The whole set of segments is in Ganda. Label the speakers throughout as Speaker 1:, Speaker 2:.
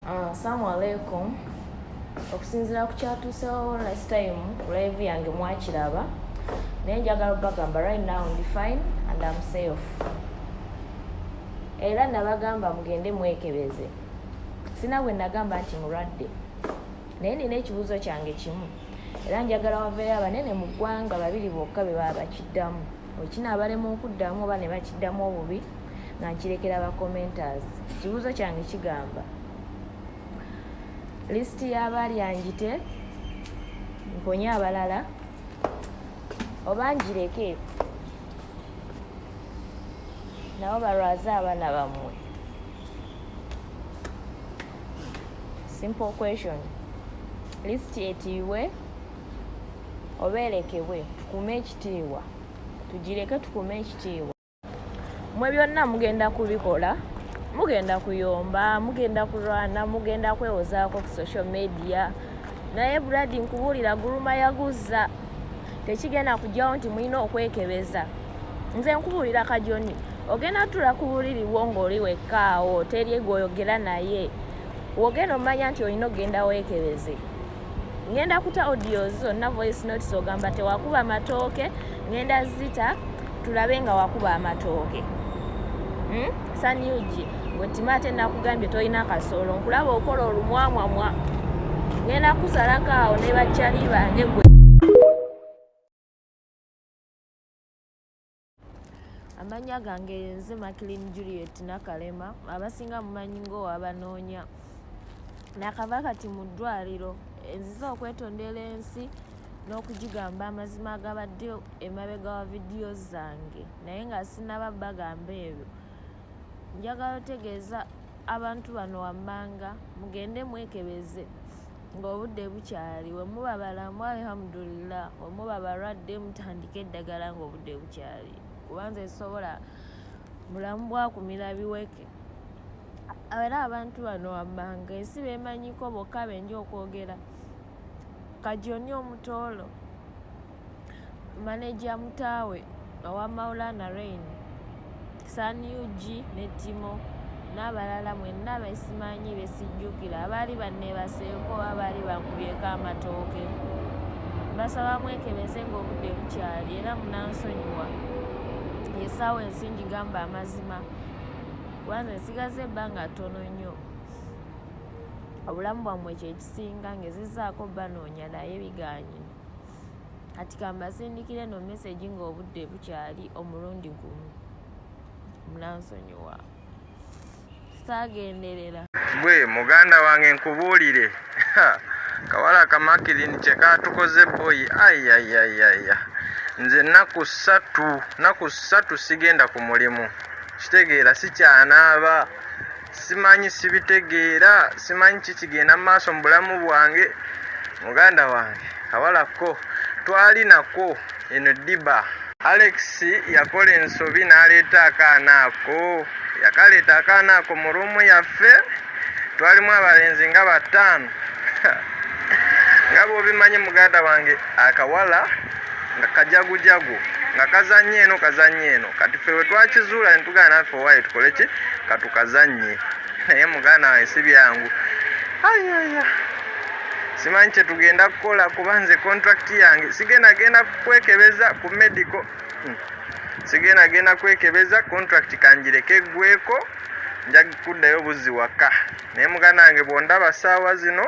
Speaker 1: Ah, Assalamu alaikum. Okusinzira ku kyatuusewo last time ku live yange mwakiraba naye njagala okubagamba right now ndi fine and am safe era nabagamba mugende mwekebeze sina bwe nagamba nti mulwadde naye nina ekibuuzo kyange kimu era njagala waveeyo abanene mu ggwanga babiri bokka be baba bakiddamu okina abalema okuddamu oba ne bakiddamu obubi nga nkirekera ba commenters ekibuuzo kyange kigamba lisiti y'abaali anjite mponye abalala oba njireke nabo balwaze abaana bammwe simple question lisiti etiibwe oba erekebwe tukume ekitiibwa tugireke tukume ekitiibwa mwe byonna mugenda kubikola mugenda kuyomba mugenda kulwana mugenda kwewozaako ku social media naye brad nkubuulira guluma yaguzza tekigenda kujjawo nti mulina okwekebeza nze nkubuulira kajoni ogenda tula kubuliriwo ng'oli wekkaawo teri gwoyogera naye wogenda omanya nti olina okugenda weekebeze ngenda kuta audios zonna voice notes ogamba tewakuba matooke ngenda zita tulabe nga wakuba amatooke hmm? saniugi wetima ate nakugambye tolina kasolo nkulaba okola olumwamwamwa ngenda kusalako awo ne bacali bange gwe amannya gange yenze maclin juliet nakalema abasinga mumanyi ngaowabanoonya nakava kati mu ddwaliro enziza okwetondera ensi n'okugigamba amazima agabadde emabega wa vidiyo zange naye nga sinaba bagamba ebyo njagala otegeeza abantu bano wammanga mugende mwekebeze ng'obudde bukyali wemuba balamu alhamdulillah wemuba balwadde mutandika eddagala ng'obudde bukyali kubanza esobola bulamu bwakumira biweke era abantu bano wammanga ensi bemanyiko bokka benja okwogera kajoni omutoolo maneja mutaawe owa maulana rain san ug ne timo n'abalala mwenna besimanyi besijjukira abaali banneebaseeko abaali bankubyeko amatooke basaba mwekebeze ng'obudde bukyali era munansonyiwa esaawa ensi ngigamba amazima kubanze nsigaza ebbanga ttono nnyo obulamu bwammwe kyekisinga ngezezaako banoonya naye biganye kati kambasindikire no message nga obudde bukyali omulundi gumu munansonyiwa saagenderera gwe muganda
Speaker 2: wange nkubuulire kawala kamakirini kyekatukoze boyi ayayayaya nze naku ssatu naku ssatu sigenda ku mulimu kitegeera sikyanaaba simanyi sibitegeera simanyi kikigenda mu maaso mu bulamu bwange muganda wange kawalakko twalinako eno diba alex yakola ensobi n'aleeta akaana ako yakaleeta akaana ako mu ruumu yaffe twalimu abalenzi nga bataano nga bwobimanyi muganda wange akawala nga kajagujagu nga kazanye eno kazanye eno kati fe wetwakizuula netugana naffe owaye tukole ki katukazanye naye muganda waye si byangu ayaya simanyi kyetugenda kukola kuba nze contract yange sigenda genda kwekebeza ku medical hmm. sigenda genda kwekebeza contract kanjireke gweko nja kuddayo buzzi waka naye muganange bwondaba saawa zino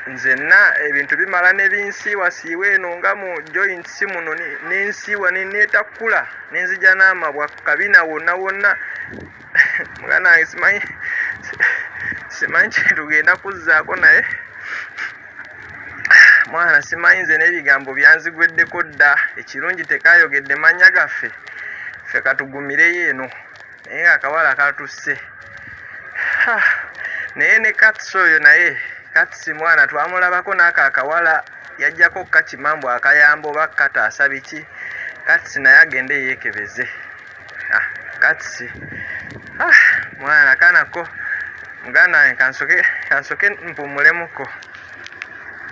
Speaker 2: nzenna ebintu bimala nebinsiiwa siiwa eno nga mu joint si muno nensiiwa netakula nenzija n'amabwa kabina wonna wonna muganange simanyi simanyi kyetugenda kuzzaako naye mwana simanyi nze n'ebigambo byanzigweddeko dda ekirungi tekayogedde mannya gaffe ffe katugumireyo eno naye akawala katusse naye ne kats oyo naye kats mwana twamulabako naako akawala yajjako kakimambu akayamba oba kataasa biki kats naye agende yekebeze ah, kats ah, mwana kanako muganda wange kansoke mpumulemuko